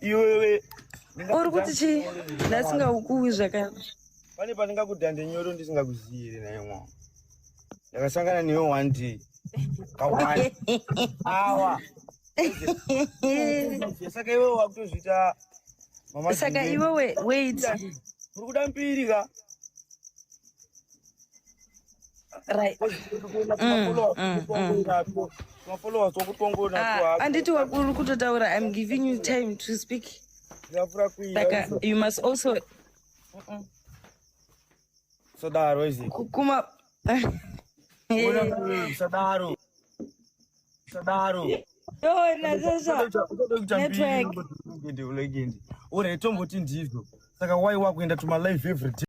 iwewe uri kuti chii ndasingaukuwi zvakanaka pane pandingakudhande nyoro ndisingakuzivi here naye mwana ndakasangana newe one day kawani awa saka iwe wakutozviita saka iwe wait uri kuda mbiri ka right anditi wakuri kutotaura im giving you time to speak saka you must also sadaro izi kuma sadaro sadaro yona sasa network uri tomboti ndizvo saka why wakuenda tuma live everyday